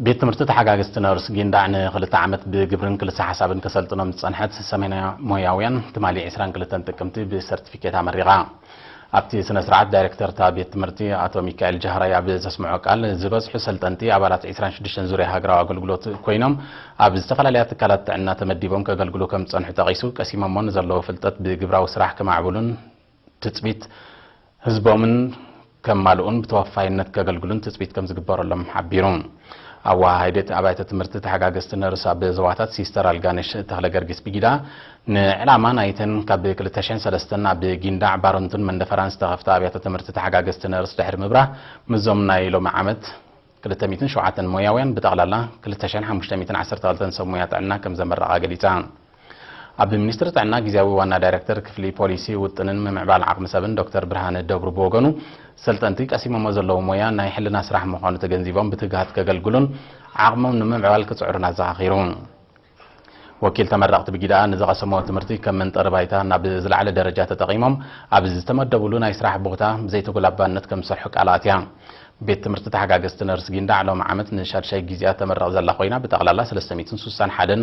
ቤት ትምህርቲ ተሓጋግዝቲ ነርስ ጊንዳዕ ንክልተ ዓመት ብግብርን ክልሰ ሓሳብን ከሰልጥኖም ዝፀንሐት ሰሜና ሞያውያን ትማሊ 22 ጥቅምቲ ብሰርቲፊኬት ኣመሪቓ። ኣብቲ ስነ ስርዓት ዳይሬክተር እታ ቤት ትምህርቲ ኣቶ ሚካኤል ጃህራይ ኣብ ዘስምዖ ቃል ዝበዝሑ ሰልጠንቲ ኣባላት 26 ዙርያ ሃገራዊ ኣገልግሎት ኮይኖም ኣብ ዝተፈላለያ ትካላት ጥዕና ተመዲቦም ከገልግሉ ከም ዝፀንሑ ጠቒሱ ቀሲሞሞ ንዘለዎ ፍልጠት ብግብራዊ ስራሕ ከማዕብሉን ትፅቢት ህዝቦምን ከማልኡን ብተወፋይነት ከገልግሉን ትፅቢት ከምዝግበረሎም ሓቢሩ። ኣወሃሃዲ እቲ ኣብያተ ትምህርቲ ተሓጋገዝቲ ነርስ ኣብ ዞባታት ሲስተር ኣልጋነሽ ተኽለገርጊስ ብጊዳ ንዕላማ ናይተን ካብ 2003 ኣብ ጊንዳዕ፣ ባረንቱን መንደፈራን ዝተኸፍታ ኣብያተ ትምህርቲ ተሓጋገዝቲ ነርስ ድሕሪ ምብራህ ምስዞም ናይ ሎሚ ዓመት ክልተ ሚእትን ሸውዓተን ሞያውያን ብጠቕላላ ክልተ ሸሕን ሓሙሽተ ሚእትን ዓሰርተ ክልተን ሰብ ሞያ ጥዕና ከምዘመረቓ ገሊጻ። ኣብ ሚኒስትሪ ጥዕና ግዝያዊ ዋና ዳይረክተር ክፍሊ ፖሊሲ ውጥንን ምምዕባል ዓቕሚ ሰብን ዶክተር ብርሃነ ደብሩ ብወገኑ ሰልጠንቲ ቀሲሞሞ ዘለዉ ሞያ ናይ ሕልና ስራሕ ምዃኑ ተገንዚቦም ብትግሃት ከገልግሉን ዓቕሞም ንምምዕባል ክጽዕሩን ኣዘኻኺሩ። ወኪል ተመረቕቲ ብጊደኣ ንዝቐሰምዎ ትምህርቲ ከም መንጠሪ ባይታ ናብ ዝለዓለ ደረጃ ተጠቒሞም ኣብ ዝተመደብሉ ናይ ስራሕ ቦታ ብዘይተጎላባነት ከም ዝሰርሑ ቃል ኣትያ። ቤት ትምህርቲ ተሓጋገዝቲ ነርስ ጊንዳዕ ሎሚ ዓመት ንሻድሻይ ጊዚኣ ተመርቕ ዘላ ኮይና ብጠቕላላ ሰለስተ ሚእትን ስሳን ሓደን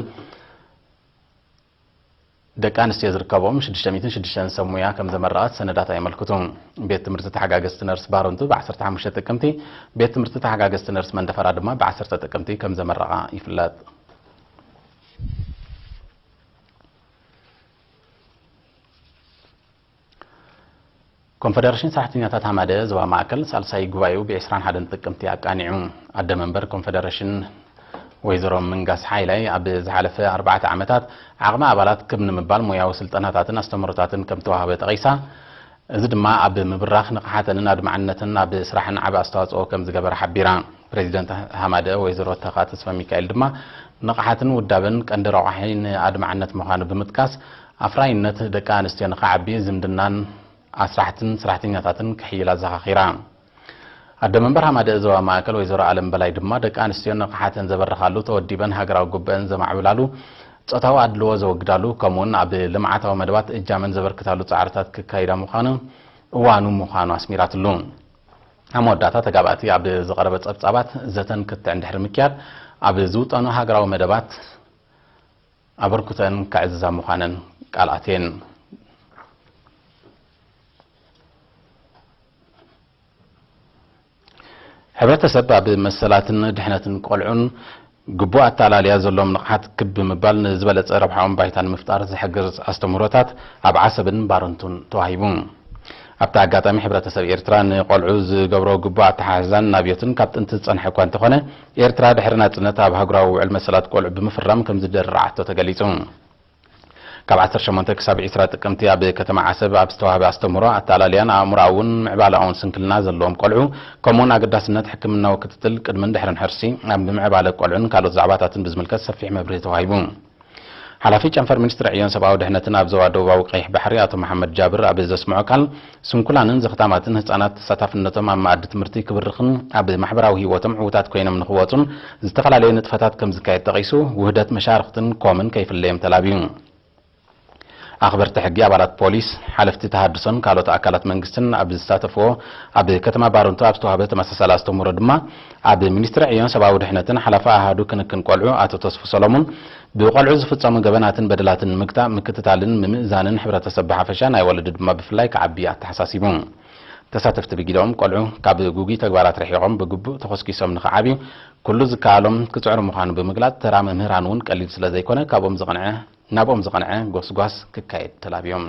ደቂ ኣንስትዮ ዝርከብኦም ሽዱሽተ ሚእትን ሽዱሽተን ሰብ ሙያ ከም ዘመረቓ እቲ ሰነዳት ኣየመልክቱ። ቤት ትምህርቲ ተሓጋገዝቲ ነርስ ባረንቱ ብ ዓሰርተ ሓሙሽተ ጥቅምቲ፣ ቤት ትምህርቲ ተሓጋገዝቲ ነርስ መንደፈራ ድማ ብ ዓሰርተ ጥቅምቲ ከም ዘመረቓ ይፍለጥ። ኮንፈደረሽን ሰራሕተኛታት ሃማደ ዞባ ማእከል ሳልሳይ ጉባኤኡ ብ ዕስራን ሓደን ጥቅምቲ ኣቃኒዑ። ኣደ መንበር ኮንፈደረሽን ወይዘሮ ምንጋስ ሓይላይ ኣብ ዝሓለፈ ኣርባዕተ ዓመታት ዓቕሚ ኣባላት ክብ ንምባል ሞያዊ ስልጠናታትን ኣስተምህሮታትን ከምተዋህበ ጠቒሳ፣ እዚ ድማ ኣብ ምብራኽ ንቕሓተንን ኣድማዕነተንን ኣብ ስራሕን ዓቢ ኣስተዋጽኦ ከምዝገበረ ሓቢራ። ፕረዚደንት ሃማደ ወይዘሮ ተካ ተስፋሚካኤል ድማ ንቕሓትን ውዳበን ቀንዲ ረቋሒ ንኣድማዕነት ምዃኑ ብምጥቃስ፣ ኣፍራይነት ደቂ ኣንስትዮ ንኽዓቢ ዝምድናን ኣስራሕትን ስራሕተኛታትን ክሕይል ኣዘኻኺራ። ኣደ መንበር ሃማደኤ ዞባ ማእከል ወይዘሮ ኣለም በላይ ድማ ደቂ ኣንስትዮ ንቕሓተን ዘበርኻሉ፣ ተወዲበን ሃገራዊ ጉብኤን ዘማዕብላሉ፣ ፆታዊ ኣድልዎ ዘወግዳሉ ከምኡ ውን ኣብ ልምዓታዊ መደባት እጃመን ዘበርክታሉ ፃዕርታት ክካይዳ ምዃኑ እዋኑ ምዃኑ ኣስሚራትሉ። ኣብ መወዳእታ ተጋባእቲ ኣብ ዝቐረበ ፀብፃባት ዘተን ክትዕን ድሕሪ ምክያድ ኣብ ዝውጠኑ ሃገራዊ መደባት ኣበርኩተን ከዕዝዛ ምዃነን ቃል ኣትየን። ሕብረተሰብ ኣብ መሰላትን ድሕነትን ቆልዑን ግቡእ ኣተኣላልያ ዘለዎም ንቕሓት ክብ ብምባል ንዝበለፀ ረብሓኦም ባይታ ንምፍጣር ዝሕግዝ ኣስተምህሮታት ኣብ ዓሰብን ባረንቱን ተዋሂቡ። ኣብቲ ኣጋጣሚ ሕብረተሰብ ኤርትራ ንቆልዑ ዝገብሮ ግቡእ ኣተሓሕዛን ናብዮትን ካብ ጥንቲ ዝፀንሐ እኳ እንተኾነ፣ ኤርትራ ድሕሪ ናጽነት ኣብ ኣህጉራዊ ውዕል መሰላት ቆልዑ ብምፍራም ከምዝደርርዓቶ ተገሊጹ። ካብ ዓሰርተ ሸሞንተ ክሳብ ዕስራ ጥቅምቲ ኣብ ከተማ ዓሰብ ኣብ ዝተዋህበ ኣስተምህሮ፣ ኣተኣላልያን ኣእምሮኣውን ምዕባለኣውን ስንክልና ዘለዎም ቆልዑ፣ ከምኡ'ውን ኣገዳስነት ሕክምናዊ ክትትል ቅድምን ድሕርን ሕርሲ፣ ኣብ ምዕባለ ቆልዑን ካልኦት ዛዕባታትን ብዝምልከት ሰፊሕ መብርሂ ተዋሂቡ። ሓላፊ ጨንፈር ሚኒስትሪ ዕዮን ሰብኣዊ ድሕነትን ኣብ ዞባ ደቡባዊ ቀይሕ ባሕሪ ኣቶ መሓመድ ጃብር ኣብ ዘስምዖ ቃል፣ ስንኩላንን ዘኽታማትን ህጻናት ተሳታፍነቶም ኣብ መኣዲ ትምህርቲ ክብርኽን ኣብ ማሕበራዊ ህይወቶም ዕዉታት ኮይኖም ንኽወጹን ዝተፈላለየ ንጥፈታት ከምዝካየድ ጠቒሱ፣ ውህደት መሻርኽትን ኮምን ከይፍለዮም ተላብዩ። ኣኽበርቲ ሕጊ፣ ኣባላት ፖሊስ፣ ሓለፍቲ ተሃድሶን ካልኦት ኣካላት መንግስትን ኣብ ዝሳተፍዎ ኣብ ከተማ ባረንቱ ኣብ ዝተዋህበ ተመሳሳሊ ኣስተምህሮ ድማ ኣብ ሚኒስትሪ ዕዮን ሰብኣዊ ድሕነትን ሓላፊ ኣሃዱ ክንክን ቆልዑ ኣቶ ተስፉ ሰሎሙን ብቆልዑ ዝፍፀሙ ገበናትን በደላትን ንምግታእ ምክትታልን ምምእዛንን ሕብረተሰብ ብሓፈሻ ናይ ወለዲ ድማ ብፍላይ ክዓቢ ኣተሓሳሲቡ። ተሳተፍቲ ብግደኦም፣ ቆልዑ ካብ ግጉይ ተግባራት ርሒቖም ብግቡእ ተኾስኲሶም ንኽዓብዩ ኩሉ ዝከኣሎም ክፅዕሩ ምዃኑ ብምግላፅ ተራ መምህራን እውን ቀሊል ስለዘይኮነ ካብኦም ዝቕንዐ ናብኦም ዝቐንዐ ጎስጓስ ክካየድ ተላብዮም።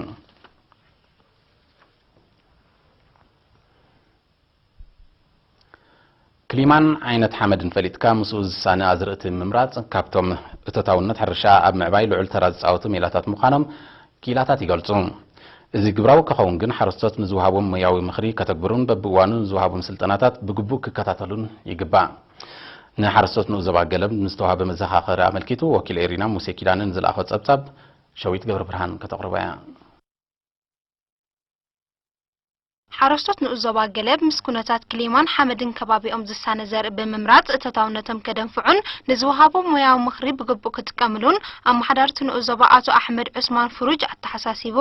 ክሊማን ዓይነት ሓመድን ፈሊጥካ ምስኡ ዝሳነ ኣዝርእቲ ምምራፅ ካብቶም እቶታውነት ሕርሻ ኣብ ምዕባይ ልዑል ተራ ዝፃወቱ ሜላታት ምዃኖም ክኢላታት ይገልፁ። እዚ ግብራዊ ከኸውን ግን ሓረስቶት ንዝወሃቦም ሞያዊ ምኽሪ ከተግብሩን በቢእዋኑ ዝወሃቦም ስልጠናታት ብግቡእ ክከታተሉን ይግባእ። ንሓረስቶት ንኡስ ዞባ ገለብ ንዝተዋህበ መዘኻኸሪ ኣመልኪቱ ወኪል ኤሪና ሙሴ ኪዳነ ንዝልኣኾ ጸብጻብ ሸዊት ገብረብርሃን ከተቕርቦ እያ። ሓረስቶት ንኡስ ዞባ ገለብ ምስ ኩነታት ክሊማን ሓመድን ከባቢኦም ዝሳነ ዘርኢ ብምምራጽ እቶታውነቶም ከደንፍዑን ንዝወሃቦም ሞያዊ ምኽሪ ብግቡእ ክጥቀምሉን ኣመሓዳርቲ ንኡስ ዞባ ኣቶ ኣሕመድ ዑስማን ፍሩጅ ኣተሓሳሲቡ።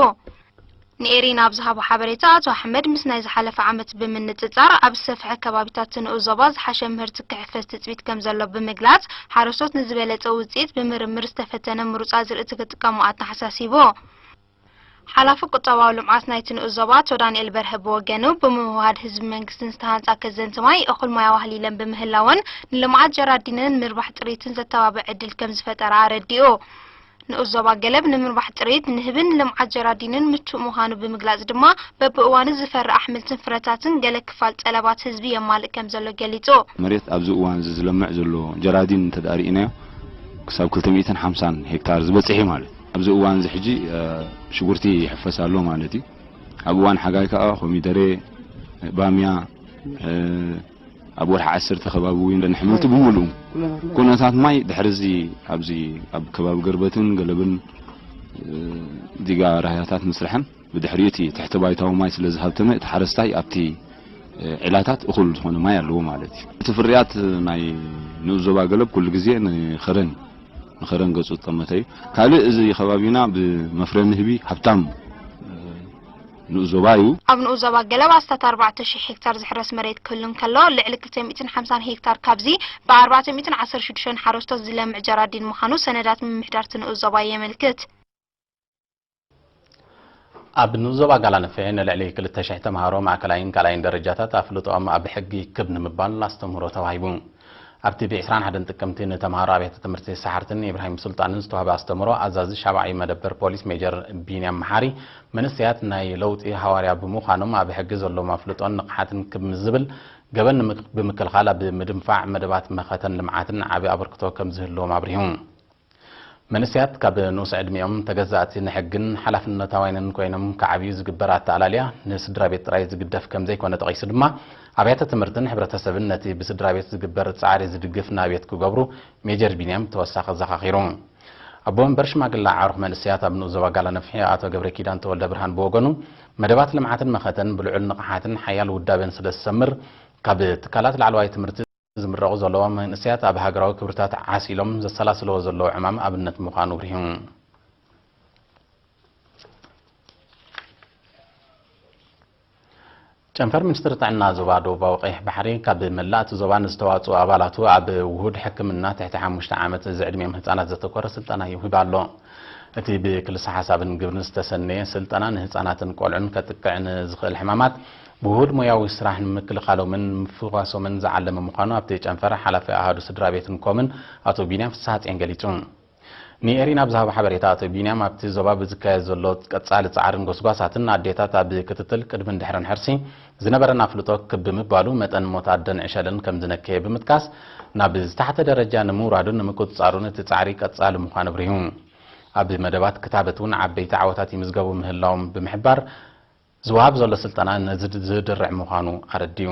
ንኤሪና ኣብ ዝሃቦ ሓበሬታ፣ ኣቶ ኣሕመድ ምስ ናይ ዝሓለፈ ዓመት ብምንጽጻር ኣብ ዝሰፍሐ ከባቢታት ንኡስ ዞባ ዝሓሸ ምህርቲ ክሕፈስ ትጽቢት ከምዘሎ ብምግላጽ፣ ሓረስቶት ንዝበለጸ ውጽኢት ብምርምር ዝተፈተነ ምሩጽ ኣዝርእቲ ክጥቀሙ ኣተሓሳሲቡ። ሓላፊ ቁጠባዊ ልምዓት ናይቲ ንኡስ ዞባ ኣቶ ዳንኤል በርሀ ብወገኑ፣ ብምውህሃድ ህዝብን መንግስትን ዝተሃንጻ ከዘንቲ ማይ እኹል ማይ ኣዋህሊለን ብምህላወን ንልምዓት ጀራዲንን ምርባሕ ጥሪትን ዘተባብዕ ዕድል ከምዝፈጠራ ኣረዲኡ። ንኡስ ዞባ ገለብ ንምርባሕ ጥሪት ንህብን ልምዓት ጀራዲንን ምቹእ ምዃኑ ብምግላፅ ድማ በቢእዋኑ ዝፈሪ ኣሕምልትን ፍረታትን ገለ ክፋል ጠለባት ህዝቢ የማልእ ከምዘሎ ገሊፁ። መሬት ኣብዚ እዋን እዚ ዝለምዕ ዘሎ ጀራዲን እንተድኣ ርኢናዮ ክሳብ ክልተ ሚእትን ሓምሳን ሄክታር ዝበፅሕ እዩ ማለት እዩ። ኣብዚ እዋን እዚ ሕጂ ሽጉርቲ ይሕፈስ ኣሎ ማለት እዩ። ኣብ እዋን ሓጋይ ከዓ ኮሚደሬ፣ ባምያ፣ ኣብ ወርሒ ዓሰርተ ከባቢ እውን ደን ሕምብርቲ ብምሉኡ ኩነታት ማይ ድሕርዚ ኣብዚ ኣብ ከባቢ ገርበትን ገለብን ዲጋ ራህያታት ምስርሐን ብድሕሪኡ እቲ ትሕቲ ባይታዊ ማይ ስለ ዝሃብተመ እቲ ሓረስታይ ኣብቲ ዒላታት እኹል ዝኾነ ማይ ኣለዎ ማለት እዩ። እቲ ፍርያት ናይ ንኡስ ዞባ ገለብ ኩሉ ግዜ ንኸረን ንኸረን ገጹ ዝጠመተ እዩ። ካልእ እዚ ከባቢና ብመፍረ ንህቢ ሃብታም ንኡዞባ እዩ። ኣብ ንኡዞባ ገለብ ኣስታት ኣርባዕተ ሽሕ ሄክታር ዝሕረስ መሬት ክህሉ እንከሎ፣ ልዕሊ ክልተ ሚእትን ሓምሳን ሄክታር ካብዚ ብኣርባዕተ ሚእትን ዓሰርተ ሽዱሽተን ሓረስቶት ዝለምዕ ጀራዲን ምዃኑ ሰነዳት ምምሕዳር'ቲ ንኡዞባ የመልክት። ኣብ ንኡዞባ ጋላነፌ ንልዕሊ ክልተ ሽሕ ተመሃሮ ማእከላይን ካልኣይን ደረጃታት ኣፍልጦኦም ኣብ ሕጊ ክብ ንምባል ኣስተምህሮ ተዋሂቡ። ኣብቲ ብ ዕስራን ሓደን ጥቅምቲ ንተምሃሮ ኣብያተ ትምህርቲ ሰሓርትን ኢብራሂም ሱልጣንን ዝተዋህበ ኣስተምህሮ ኣዛዚ ሻብዓይ መደበር ፖሊስ ሜጀር ቢንያም መሓሪ መንእሰያት ናይ ለውጢ ሃዋርያ ብምዃኖም ኣብ ሕጊ ዘለዎም ኣፍልጦን ንቕሓትን ክብ ምስ ዝብል ገበን ብምክልኻል ኣብ ምድንፋዕ መደባት መኸተን ልምዓትን ዓቢ ኣበርክቶ ከምዝህልዎም ኣብሪሁ። መንእሰያት ካብ ንኡስ ዕድሚኦም ተገዛእቲ ንሕግን ሓላፍነታውያንን ኮይኖም ክዓብዩ ዝግበር ኣተኣላልያ ንስድራቤት ጥራይ ዝግደፍ ከምዘይኮነ ጠቒሱ ድማ ኣብያተ ትምህርትን ሕብረተሰብን ነቲ ብስድራቤት ዝግበር ጻዕሪ ዝድግፍ ናብየት ክገብሩ ሜጀር ቢንያም ብተወሳኺ ኣዘኻኺሩ። ኣቦ መንበር ሽማግለ ኣዕሩኽ መንእሰያት ኣብ ንኡስ ዞባ ጋላነፍሒ ኣቶ ገብረኪዳን ተወልደብርሃን ብወገኑ መደባት ልምዓትን መኸተን ብልዑል ንቕሓትን ሓያል ውዳቤን ስለዝሰምር ካብ ትካላት ላዕለዋይ ትምህርቲ ዝምረቑ ዘለዎም መንእሰያት ኣብ ሃገራዊ ክብርታት ዓስ ኢሎም ዘሰላስልዎ ዘለዉ ዕማም ኣብነት ምዃኑ ኣብሪሁ። ጨንፈር ሚኒስትሪ ጥዕና ዞባ ደቡባዊ ቀይሕ ባሕሪ ካብ መላእ እቲ ዞባ ንዝተዋፅኡ ኣባላቱ ኣብ ውሁድ ሕክምና ትሕቲ ሓሙሽተ ዓመት ዝዕድሚኦም ህፃናት ዘተኮረ ስልጠና ይህብ ኣሎ። እቲ ብክልሰ ሓሳብን ግብርን ዝተሰነየ ስልጠና ንህፃናትን ቆልዑን ከጥቅዕ ንዝኽእል ሕማማት ውሁድ ሞያዊ ስራሕ ንምክልኻሎምን ንምፍዋሶምን ዝዓለመ ምዃኑ ኣብቲ ጨንፈር ሓላፊ ኣሃዱ ስድራቤትን ኮምን ኣቶ ቢንያም ፍስሃጼን ገሊጹ። ንኤሪና ኣብ ዝሃቦ ሓበሬታ ኣቶ ቢንያም ኣብቲ ዞባ ብዝካየድ ዘሎ ቀጻሊ ጻዕርን ጎስጓሳትን ኣዴታት ኣብ ክትትል ቅድምን ድሕርን ሕርሲ ዝነበረን ኣፍልጦ ክብ ብምባሉ መጠን ሞት ኣደን ዕሸልን ከምዝነከየ ብምጥቃስ ናብ ዝተሓተ ደረጃ ንምውራዱን ንምቁጽጻሩን እቲ ጻዕሪ ቀጻሊ ምዃኑ ኣብሪሁ። ኣብ መደባት ክታበት እውን ዓበይቲ ዓወታት ይምዝገቡ ምህላዎም ብምሕባር ዝወሃብ ዘሎ ስልጠና ነዚ ዝድርዕ ምዃኑ ኣረዲኡ።